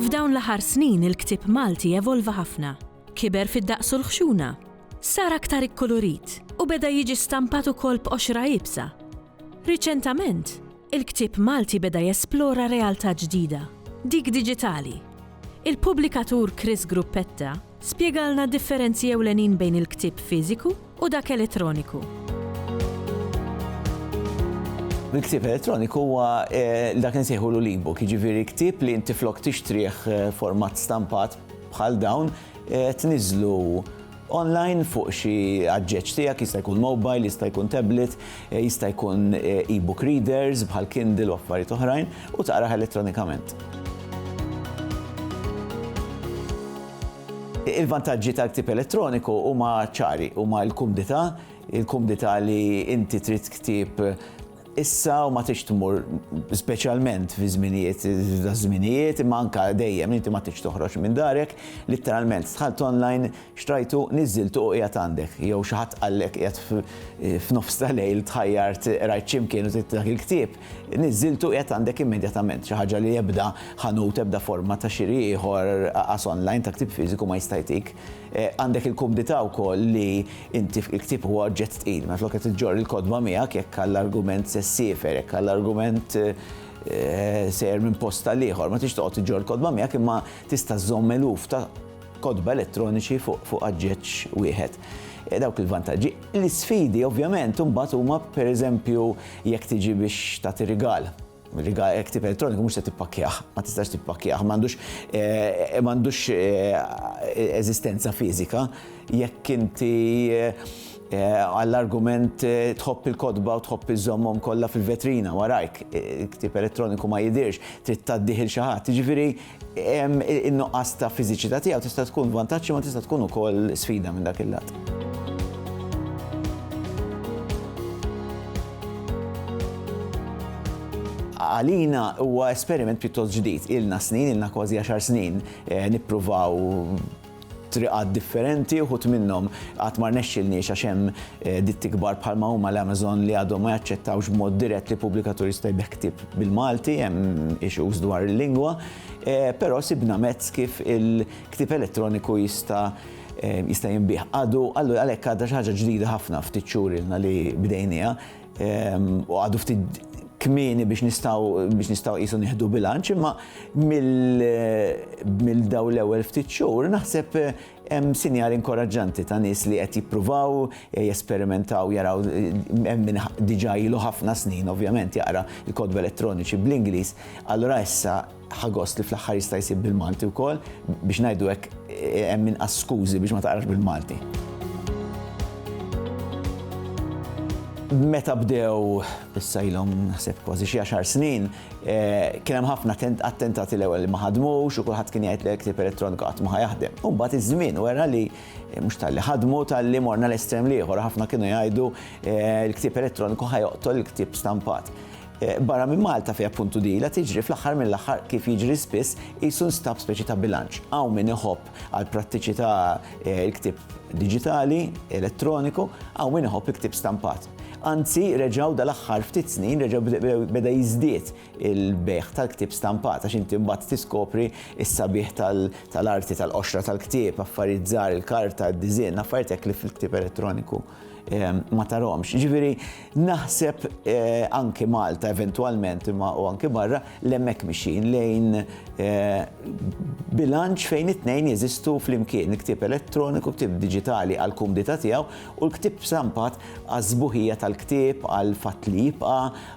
F'dawn l-aħħar snin il-ktieb Malti evolva ħafna. Kiber fid-daqs u l-ħxuna, sar aktar ikkulurit u beda jiġi stampat ukoll b'qoxra iebsa. Riċentament, il-ktieb Malti beda jesplora realtà ġdida, dik diġitali. Il-pubblikatur Chris Gruppetta spjegalna d-differenzi ewlenin bejn il-ktieb fiżiku u dak elettroniku. Il-ktieb elettroniku huwa eh, dak insejħu l-e-book, jiġifieri ktieb li inti flok tixtrih eh, format stampat bħal dawn eh, tniżlu online fuq xi aġġeġġ tiegħek, jista' jkun mobile, jista' jkun tablet, jista' jkun e-book readers bħal Kindle u affarijiet oħrajn, u taqrah elettronikament. Il-vantaġġi tal-ktieb elettroniku huma ċari, huma l-kumdità, il-kumdità li inti trid ktieb Issa u ma tridx tmur speċjalment fi żminijiet daż-żminijiet imma anke dejjem inti ma tridx toħroġ minn darek, litteralment dħalt online, xtrajtu, niżżiltu u qiegħed għandek. Jew xi ħadd qallek qiegħed f'nofs ta' lejl tħajjart qrajt x'imkien u trid dak il-ktieb, niżżiltu u qiegħed għandek immedjatament, xi ħaġa li ebda ħanut, ebda forma ta' xiri ieħor, qas online, ta' ktieb fiżiku ma jista' jtik. Għandek il-kumdità wkoll li Inti f'kiktib huwa oġġett tqil, mela flok qed iġġorr il-kotba miegħek jekk għall-argument se ssiefer, jekk għall-argument sejjer minn post għal ieħor, ma tridx toqgħod iġġorr il-kotba miegħek imma tista' żżomm eluf ta' kotba elettroniċi fuq aġġeġġ wieħed. Dawk il-vantaġġi. L-isfidi ovvjament imbagħad huma pereżempju jekk tiġi biex tagħti rigal. Riga hekk tip elettroniku mhux se tippakkjah, ma tistax tippakkjah, m'għandux m'għandux eżistenza fiżika jekk inti għall-argument tħobb il-kotba u tħobb iżżommhom kollha fil-vetrina warajk, ktieb elettroniku ma jidhirx, trid tgħaddih 'il xi ħadd. Jiġifieri In-nuqqas ta' fiżiċità tiegħu tista' tkun vantaġġ imma tista' tkun ukoll sfida minn dak il-lat. Għalina huwa esperiment pjuttost ġdid. Ilna snin, ilna kważi għaxar snin nippruvaw triqat differenti, uħud minnhom għad ma rnexxilniex għax hemm ditti kbar bħalma huma l-Amazon li għadhom ma jaċċettawx b'mod dirett li pubblikatur jista' jbigħ ktieb bil-Malti, hemm issues dwar il-lingwa, però sibna mezz kif il-ktieb elettroniku jista' jista' jinbigħ. Għadu għalhekk għadha xi ħaġa ġdida ħafna ftit xhur ilna li bdejnieha. u għadu ftit kmieni biex nistaw biex nistaw jisu nieħdu bilanċ, imma mill-daw l-ewwel ftit xhur naħseb eh, hemm sinjal inkoraġġanti ta' nies li qed jippruvaw eh, jesperimentaw jaraw eh, hemm minn diġà ilu ħafna snin ovvjament jaqra l-kodba elettroniċi bl-Ingliż. Allura issa Ħa gost li fl-aħħar jista' jsib bil-Malti wkoll biex ngħidu hekk hemm inqas skużi biex ma taqrax bil-Malti. Meta bdew issa ilhom naħseb kważi xi għaxar snin, eh, kien hemm ħafna attentati l-ewwel li ma ħadmux u kulħadd kien jgħid li ktib elettroniku qatt ma jaħdem. U mbagħad iż-żmien wera li eh, mhux tal-li ħadmu tal-li morna l-estrem l-ieħor, ħafna kienu jgħidu eh, l-ktib elettroniku ħajoqtol il-ktib stampat. Barra minn Malta fejn appuntu din ilha tiġri, fl-aħħar mill-aħħar, kif jiġri spiss, qisu nstab speċi ta' bilanċ. Hawn min iħobb għall-prattiċità l-ktieb diġitali, elettroniku, hawn min iħobb il-ktieb stampat. Anzi, reġgħu dal-aħħar ftit snin reġa' beda jiżdied il-bejgħ tal-ktieb stampat għax inti mbagħad tiskopri s-sabiħ tal-arti tal-qoxra tal-ktieb, affarijiet żgħar, il-karta, d-disinn, affarijiet hekk li fil-ktieb elettroniku. ma taromx. Ġifieri naħseb anke Malta eventwalment imma u anke barra l-hemmhekk mixin lejn bilanċ fejn it-tnejn jeżistu flimkien il-ktieb elettroniku, ktieb diġitali għal kumdità tiegħu u l-ktieb stampat għaż-żbuħija tal-ktieb għal fatt li jibqa'